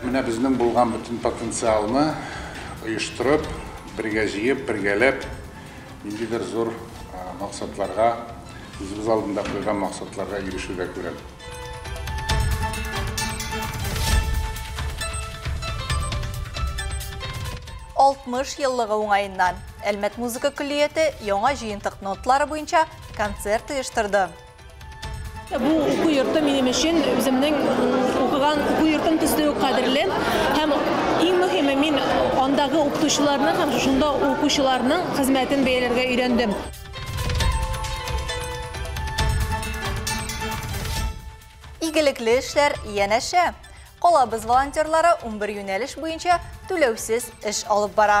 Менә безнең булган бөтен потенциалны оештырып, бергә җыеп, бергәләп ниндидер зур максатларга, үзебез алдында куйган максатларга ирешүдә күрәм. Алтмыш еллыгы уңаеннан Әлмәт музыка көллияте яңа җыентык ноталары буенча концерт оештырды. Бу уку йорты минем өчен үземнең укыган уку йортым төсле үк кадерле һәм иң мөһиме мин андагы укытучыларның һәм шунда укучыларның хезмәтен бәяләргә өйрәндем. Игелекле эшләр янәшә. Калабыз волонтерлары 11 юнәлеш буенча түләүсез эш алып бара.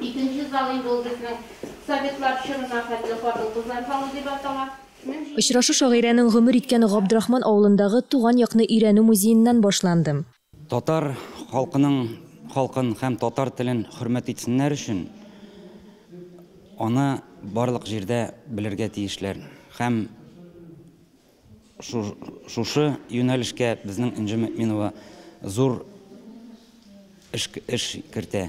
Икенче зал инде ул безнең советлар чорына хәтле хатын-кызлар залы дип атала. Очрашу шагыйрәнең гомер иткән Габдрахман авылындагы Туган якны өйрәнү музееннан башланды. Татар халкының халкын һәм татар телен хөрмәт итсеннәр өчен аны барлык җирдә белергә тиешләр һәм шушы юнәлешкә безнең Энҗе Мөэминова зур эш кертә.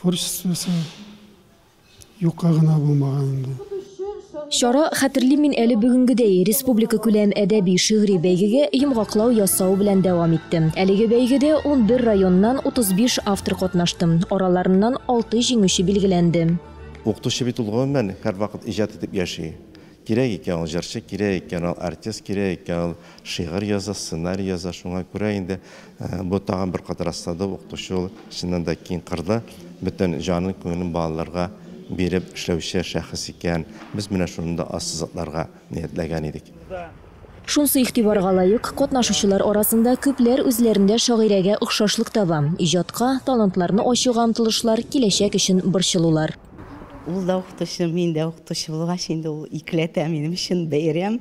Творчествосы юкка гына булмаган инде. Чара Хәтерлим мин әле бүгенгедәй республикакүләм әдәби-шигъри бәйгегә йомгаклау ясау белән дәвам итте. Әлеге бәйгедә 11 районнан 35 автор катнашты, араларыннан алты җиңүче билгеләнде. Укытучы бит ул, гомумән, һәрвакыт иҗат итеп яши. Кирәк икән ул җырчы, кирәк икән ул артист, кирәк икән ул шигырь яза, сценарий яза. Шуңа күрә инде бу тагын бер кат раслады, укытучы ул чыннан да киң кырлы, бөтен җанын, күңелен балаларга биреп эшләүче шәхес икән. Без менә шуны да ассызыкларга ниятләгән идек. Шунсы игътибарга лаек, катнашучылар арасында күпләр үзләрендә шагыйрәгә охшашлык таба, иҗатка, талантларны ачуга омтылышлар, киләчәк өчен борчылулар. Ул да укытучы, мин дә укытучы булгач, инде ул икеләтә минем өчен бәйрәм.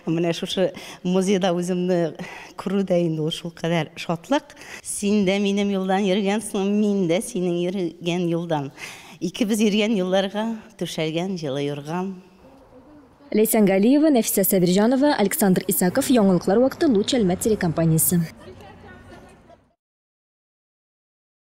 Менә шушы музейда үземне күрү дә инде ул шулкадәр шатлык. Син дә минем юлдан йөргәнсең, мин дә синең йөргән юлдан. Икебез йөргән юлларга түшәлгән җылы юрган. Ләйсән Галиева, Нәфисә Сабирҗанова, Александр Исаков, Яңалыклар вакыты, Луч Әлмәт телекомпаниясе.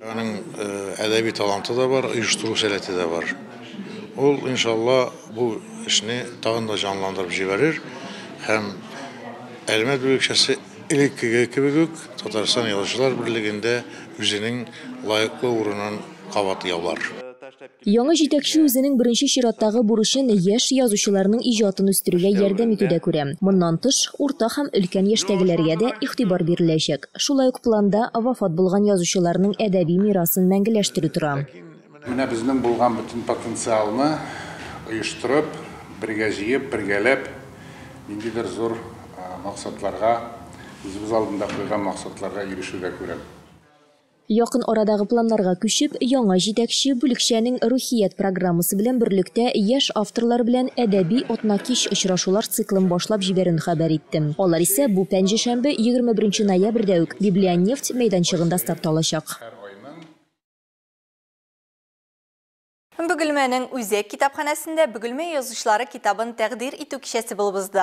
Аның әдәби таланты да бар, оештыру сәләте дә бар. Ул, иншалла, бу эшне тагын да җанландырып җибәрер һәм Әлмәт бүлекчәсе элеккеге кебек үк Татарстан Язучылар берлегендә үзенең лаеклы урынын кабат яулар. Яңа җитәкче үзенең беренче чираттагы бурычын яшь язучыларның иҗатын үстерүгә ярдәм итүдә күрә. Моннан тыш, урта һәм өлкән яшьтәгеләргә дә игътибар биреләчәк. Шулай ук планда вафат булган язучыларның әдәби мирасын мәңгеләштерү тора. Менә безнең булган бөтен потенциалны оештырып, бергә җыеп, бергәләп ниндидер зур максатларга, үзебез алдында куйган максатларга ирешүдә күрәм. Якын арадагы планнарга күчеп, яңа җитәкче бүлекчәнең Рухият программасы белән берлектә яшь авторлар белән әдәби атнакич очрашулар циклын башлап җибәрүен хәбәр иттем. Алар исә бу пәнҗешәмбе, 21 ноябрьдә үк Библионефть мәйданчыгында старт алачак. Бөгелмәнең Үзәк китапханәсендә Бөгелмә язучылары китабын тәкъдир итү кичәсе булып узды.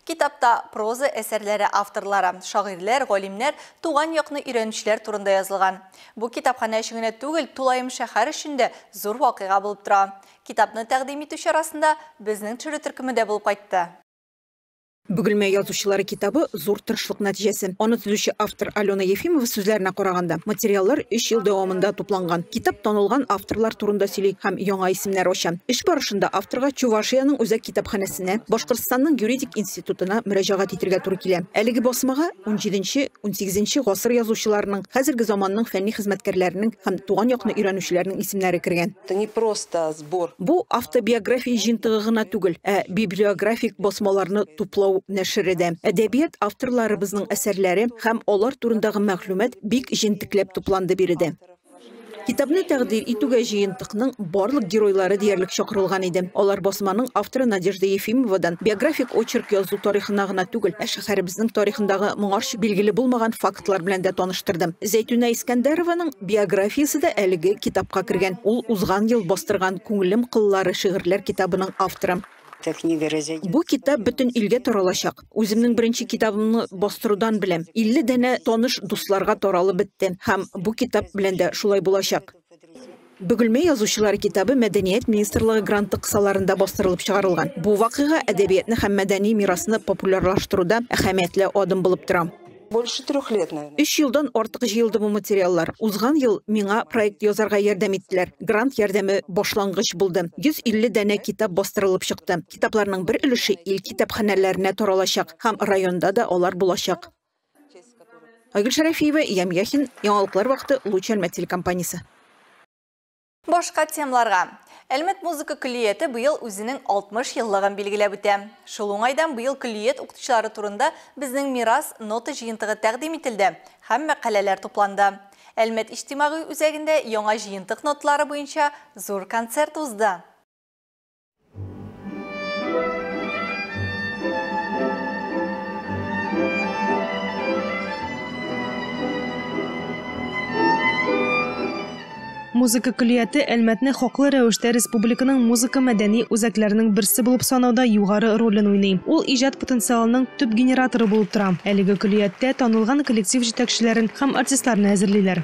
Китапта проза әсәрләре авторлары, шагыйрьләр, галимнәр, туган якны өйрәнүчеләр турында язылган. Бу китапханә өчен генә түгел, тулаем шәһәр өчен дә зур вакыйга булып тора. Китапны тәкъдим итү чарасында безнең төшерү төркеме дә булып кайтты. Бөгелмә язучылары китабы зур тырышлык нәтиҗәсе. Аны төзүче автор Алена Ефимова сүзләренә караганда, материаллар 3 ел дәвамында тупланган. Китап танылган авторлар турында сөйли һәм яңа исемнәр ача. Эш барышында авторга Чувашиянең үзәк китапханәсенә, Башкортстанның юридик институтына мөрәҗәгать итергә туры килә. Әлеге басмага 17-18 гасыр язучыларының, хәзерге заманның фәнни хезмәткәрләренең һәм туган якны өйрәнүчеләрнең исемнәре кергән. Это не просто сбор. Бу автобиография җыентыгы гына түгел, ә библиографик басмаларны туплау нәшере дә. Әдәбият авторларыбызның әсәрләре һәм алар турындагы мәгълүмат бик җентекләп тупланды биредә. Китапны тәкъдир итүгә җыентыкның барлык геройлары диярлек чакырылган иде. Алар басманың авторы Надежда Ефимовадан биографик очерк язу тарихына гына түгел, ә шәһәребезнең тарихындагы моңарчы билгеле булмаган фактлар белән дә таныштырды. Зәйтүнә Искәндәрованың Биографиясе дә әлеге китапка кергән. Ул узган ел бастырган Күңелем кыллары шигырьләр китабының авторы. Бу китап бөтен илгә таралачак. Үземнең беренче китабымны бастырудан беләм, 50 данә таныш дусларга таралып бетте һәм бу китап белән дә шулай булачак. Бөгелмә язучылары китабы Мәдәният министрлыгы гранты кысаларында бастырылып чыгарылган. Бу вакыйга әдәбиятны һәм мәдәни мирасны популярлаштыруда әһәмиятле адым булып тора. Больше трех лет, наверное. Өч елдан артык җыелды бу материаллар. Узган ел миңа проект язарга ярдәм иттеләр. Грант ярдәме башлангыч булды. 150 данә китап бастырылып чыкты. Китапларның бер өлеше ил китапханәләренә таралачак һәм районда да алар булачак. Айгөл Шәрәфиева, Ям Яхин, Яңалыклар вакыты, Луч Әлмәт телекомпаниясе. Башка темларга. Әлмәт музыка көллияте быел үзенең 60 еллыгын билгеләп үтә. Шул уңайдан быел көллият укытучылары турында безнең мирас нота җыентыгы тәкъдим ителде һәм мәкаләләр тупланды. Әлмәт иҗтимагый үзәгендә яңа җыентык ноталары буенча зур концерт узды. Музыка көллияте Әлмәтне хаклы рәвештә республиканың музыка мәдәни үзәкләренең берсе булып санауда югары ролен уйный. Ул иҗат потенциалының төп генераторы булып тора. Әлеге көллияттә танылган коллектив җитәкчеләрен һәм артистларны әзерлиләр.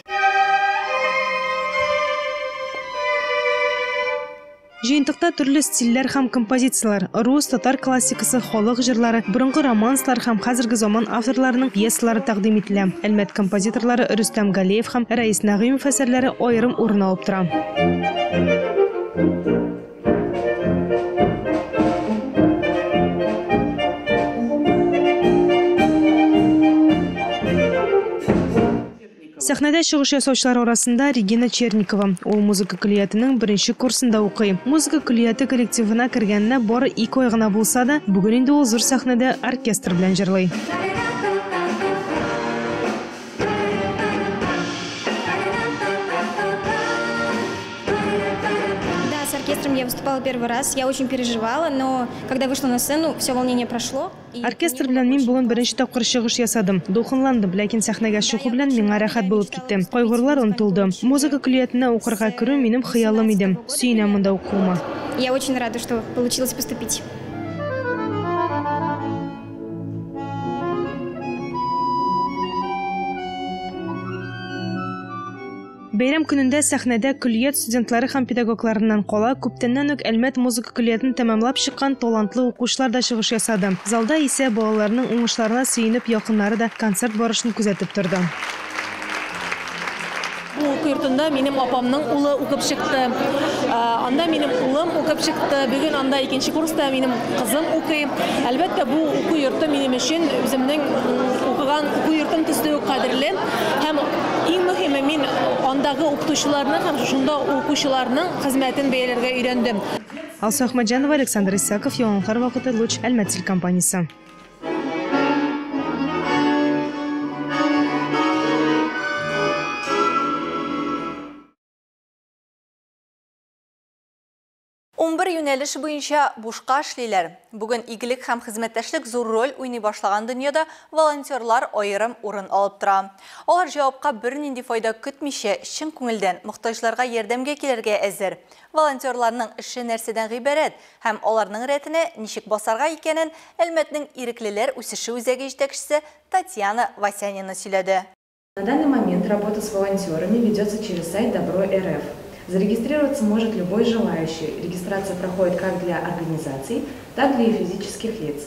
Җыентыкта төрле стильләр һәм композицияләр, рус, татар классикасы, халык җырлары, борынгы романслар һәм хәзерге заман авторларының пьесалары тәкъдим ителә. Әлмәт композиторлары Рөстәм Галеев һәм Рәис Нәгыймов әсәрләре аерым урын алып тора. Сәхнәдә чыгыш ясаучылар арасында Регина Черникова. Ул музыка көллиятенең беренче курсында укый. Музыка көллияте коллективына кергәненә бары ике ай гына булса да, бүген инде ул зур сәхнәдә оркестр белән җырлый. Оркестр белән мин бүген беренче тапкыр чыгыш ясадым. Дулкынландым, ләкин сәхнәгә чыгу белән миңа рәхәт булып китте. Кайгырулар онытылды. Музыка көллиятенә укырга керү, минем хыялым иде. Сөенәм монда укуыма. Я очень рада, что получилось поступить. Бәйрәм көнендә сәхнәдә көллият студентлары һәм педагогларыннан кала, күптәннән үк Әлмәт музыка көллиятен тәмамлап чыккан талантлы укучылар да чыгыш ясады. Залда исә балаларның уңышларына сөенеп якыннары да концерт барышын күзәтеп торды. Бу уку йортында минем апамның улы укып чыкты. Анда минем улым укып чыкты. Бүген анда икенче курста минем кызым укый. Әлбәттә, бу уку йорты минем өчен үземнең укыган уку йортым төсле үк кадерле. Һәм иң мөһиме, мин андагы укытучыларның һәм шунда укучыларның хезмәтен бәяләргә өйрәндем. Алсу Әхмәтҗанова, Александр Исаков, Яңалыклар вакыты, Луч, Әлмәт телекомпаниясе. Унбер юнәлеш буенча бушка эшлиләр. Бүген игелек һәм хезмәттәшлек зур роль уйный башлаган дөньяда волонтерлар аерым урын алып тора. Алар җавапка бернинди файда көтмичә, чын күңелдән мохтаҗларга ярдәмгә килергә әзер. Волонтерларның эше нәрсәдән гыйбарәт һәм аларның рәтенә ничек басарга икәнен Әлмәтнең иреклеләр үсеше үзәге җитәкчесе Татьяна Васянина сөйләде. На данный момент работа с волонтерами ведется через сайт Добро.рф. Зарегистрироваться может любой желающий, регистрация проходит как для организаций, так для и физических лиц.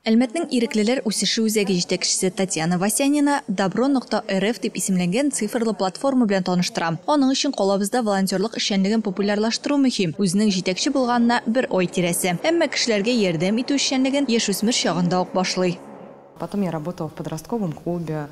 Әлмәтнең Иреклеләр үсеше үзәге җитәкчесе Татьяна Васянина Добро нокта рф дип исемләнгән цифрлы платформа белән таныштыра. Аның өчен калабызда волонтерлык эшчәнлеген популярлаштыру мөһим. Үзенең җитәкче булганына бер ай тирәсе. Әмма кешеләргә ярдәм итү эшчәнлеген яшүсмер чагында ук башлый. Потом я работала в подростковом клубе,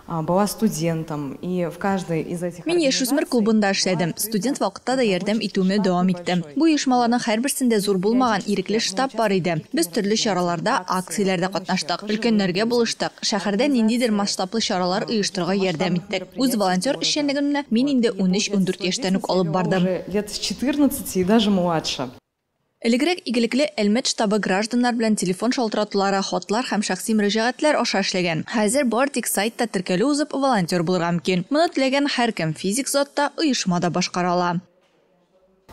была студентом, и в каждой из этих Мин яшүсмер клубында эшләдем, студент вакытта да ярдәм итүемне дәвам иттем. Бу оешмаларның һәрберсендә зур булмаган ирекле штаб бар иде. Без төрле чараларда, акцияләрдә катнаштык, өлкәннәргә булыштык, шәһәрдә ниндидер масштаблы чаралар оештырырга ярдәм иттек. Үз волонтер эшчәнлегемне мин инде 13-14 яшьтән үк алып бардым. Лет с 14 и даже младше. Элегрәк игелекле Әлмәт штабы гражданнар белән телефон шалтыратулары, хатлар һәм шәхси мөрәҗәгатьләр аша эшләгән. Хәзер бары тик сайтта теркәлү узып, волонтер булырга мөмкин. Моны теләгән һәркем, физик зат та, оешма да башкара ала.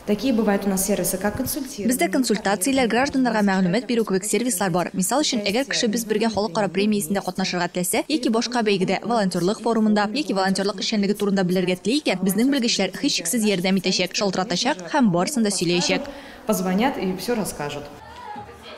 Бездә консультацияләр, гражданнарга мәгълүмат бирү кебек сервислар бар. Мисал өчен, әгәр кешебез бергә халыкара премиясендә катнашырга теләсә яки башка бәйгедә, волонтерлык форумында яки волонтерлык эшчәнлеге турында белергә тели икән, безнең белгечләр һичшиксез ярдәм итәчәк, шалтыратачак, Һәм барысын да сөйләячәк. Позвонят и все расскажут.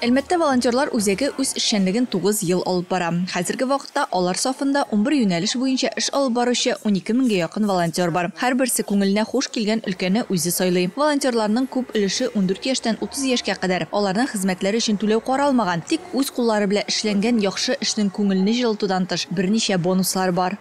Әлмәттә волонтерлар үзәге үз эшчәнлеген тугыз ел алып бара. Хәзерге вакытта алар сафында унбер юнәлеш буенча эш алып баручы унике меңгә якын волонтер бар. Һәрберсе күңеленә хуш килгән өлкәне үзе сайлый. Волонтерларның күп өлеше ундүрт яшьтән утыз яшькә кадәр. Аларның хезмәтләре өчен түләү каралмаган, тик үз куллары белән эшләнгән яхшы эшнең күңелне җылытудан тыш берничә бонуслары бар.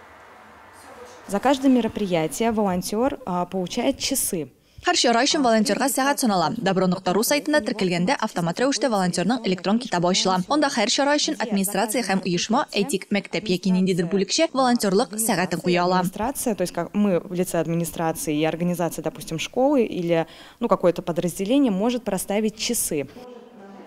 За каждое мероприятие волонтер получает часы. Һәр чара өчен волонтерга сәгать санала. Добро нокта ру сайтында теркәлгәндә автомат рәвештә волонтерның электрон китабы ачыла. Анда һәр чара өчен администрация һәм оешма, әйтик, мәктәп яки ниндидер бүлекчә, волонтерлык сәгатен куя ала. Администрация, то есть как мы в лице администрации и организация, допустим, школы или, ну, какое-то подразделение может проставить часы.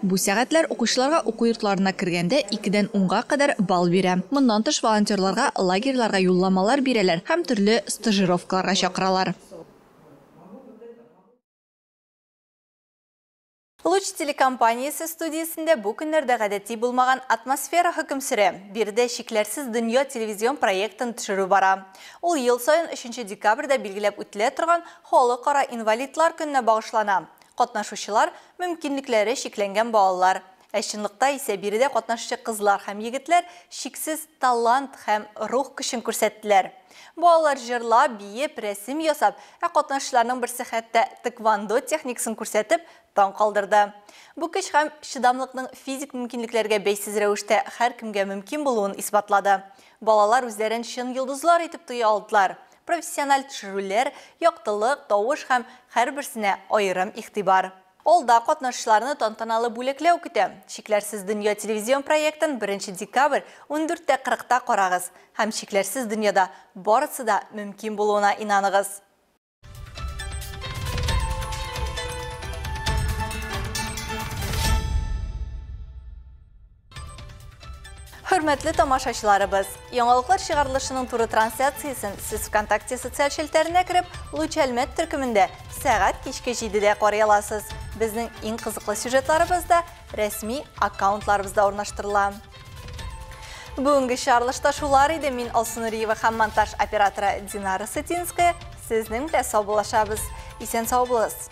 Бу сәгатьләр укучыларга уку йортларына кергәндә икедән унга кадәр балл бирә. Моннан тыш волонтерларга лагерьларга юлламалар бирәләр һәм төрле стажировкаларга чакыралар. Луч телекомпаниясе студиясендә бу көннәрдә гадәти булмаган атмосфера хөкем сөрә. Биредә Чикләрсез дөнья телевизион проектын төшерү бара. Ул ел саен өченче декабрьдә билгеләп үтелә торган Халыкара инвалидлар көненә багышлана. Катнашучылар, мөмкинлекләре чикләнгән балалар. Ә чынлыкта исә биредә катнашчы кызлар һәм егетләр чиксез талант һәм рух көчен күрсәттеләр. Балалар җырлап, биеп, рәсем ясап, ә катнашучыларның берсе хәтта тэквондо техникасын күрсәтеп, таң калдырды. Бу көч һәм чыдамлыкның физик мөмкинлекләргә бәйсез рәвештә һәркемгә мөмкин булуын исбатлады. Балалар үзләрен чын йолдызлар итеп тоя алдылар. Профессиональ төшерүләр, яктылык, тавыш һәм һәрберсенә аерым игътибар. Алда катнашучыларны тантаналы бүләкләү көтә. Чикләрсез дөнья телевизион проектын беренче декабрь ундүрттә кырыкта карагыз һәм чикләрсез дөньяда барысы да мөмкин булуына инаныгыз! Хөрмәтле тамашачыларыбыз, яңалыклар чыгарылышының туры трансляциясен сез ВКонтакте социаль челтәренә кереп, Луч Әлмәт төркемендә сәгать кичке 7-дә карый аласыз. Безнең иң кызыклы сюжетларыбыз да рәсми аккаунтларыбызда урнаштырыла. Бүгенге чарылышта шулар иде мин Алсу Нуриева һәм монтаж операторы Динара Сытинская. Сезнең белән саубуллашабыз. Исән сау булыгыз.